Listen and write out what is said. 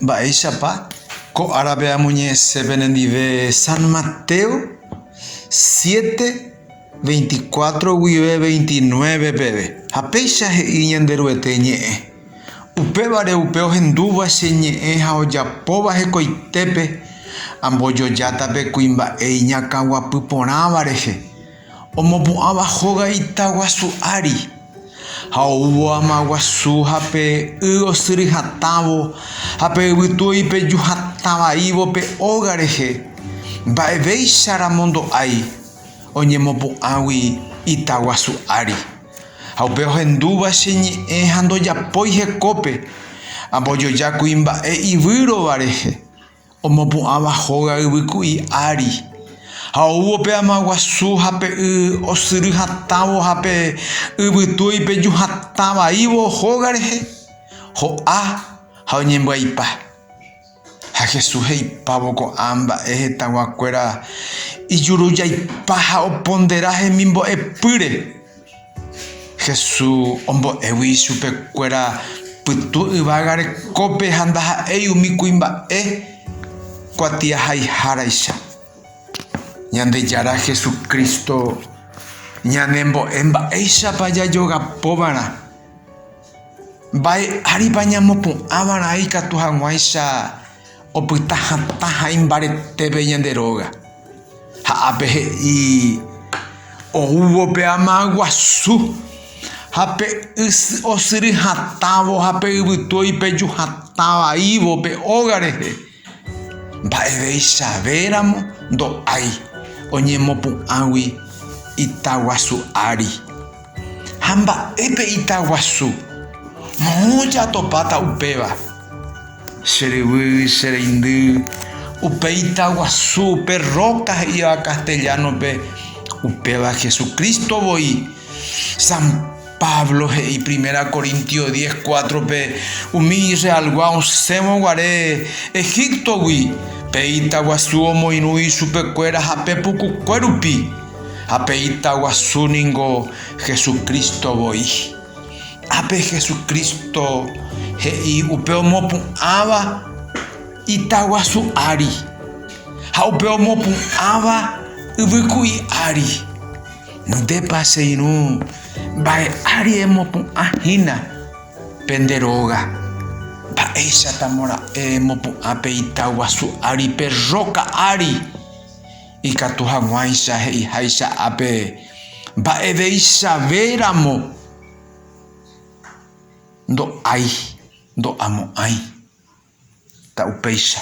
Mba'éichapa ko árape amoñe'ẽse penendive San Mateo siete, veinticuatro guive veintinueve peve, ha péicha he'i Ñanderuete ñe'ẽ, Upévare upe ohendúva che ñe'ẽ ha ojapóva hekoitépe, ambojojáta pe kuimba'e iñakãguapy porãva rehe. Omopu'ãva hóga ita guasu ári, ha oúvo ama guasu, ha pe y osyry hatãvo, ha pe yvytu oipeju hatã vaívo pe óga rehe, mba'evéicha ramondo'ái oñemopu'ãgui ita guasu ári. Ha upe ohendúva che ñe'ẽ ha ndojapói hekópe, ambojoja kuimba'e ivýrova rehe. Omopu'ãva hóga yvyku'i ári, ha oúvo pe ama guasu ha pe y osyry hatãvo ha pe yvytu oipeju hatã vaívo hóga rehe, ho'a ha oñembyaipa. Ha Jesús he'ipávo ko'ã mba'e hetãgua kuéra ijurujaipa ha opondera hemimbo'epýre. Jesús ombo'égui ichupekuéra pytu yvága rekópe ha ndaha'éi umi kuimba'e kuatiahaiháraicha. Ñandejára Jesucristo ñanembo'e mba'éichapa jajogapova'erã Mba'e áripa ñamopu'ãvarã ikatu hag̃uáicha opyta hatã ha imbaretépe ñande róga? Ha ápe he'i, Oúvo pe ama guasu, ha pe ysyry osyry hatãvo ha pe yvytu oipeju hatã vaívo pe óga rehe. Mba'eveichavéramo ndo'ái oñemopu'ãgui ita guasu ári. Ha mba'épe ita guasu? Moõ jatopáta upéva. Che ryvy, che reindy, upe ita guasu, upe róka he'íva castellano-pe, upéva Jesucristo voi. Pablo he'i Primera Corintios diez cuatro-pe umi Israelgua osẽvo guare Egíptogui, pe ita guasu omoirũi chupekuéra hape pukukue rupi, ha pe ita guasu ningo Jesucristo voi. Ápe Jesucristo he'i upe omopu'ãva ita guasu ári ha upe omopu'ãva yvyku'i ári. Ndépa che irũ mba'e ári emopu'ã hína pende róga, mba'éichapamo ra'e emopu'ã pe ita guasu ári pe róka ári, ikatu haguãicha he'iháicha ápe mba'evéichave ramo ndo'ái ndo'amo'ãi, ta upéicha.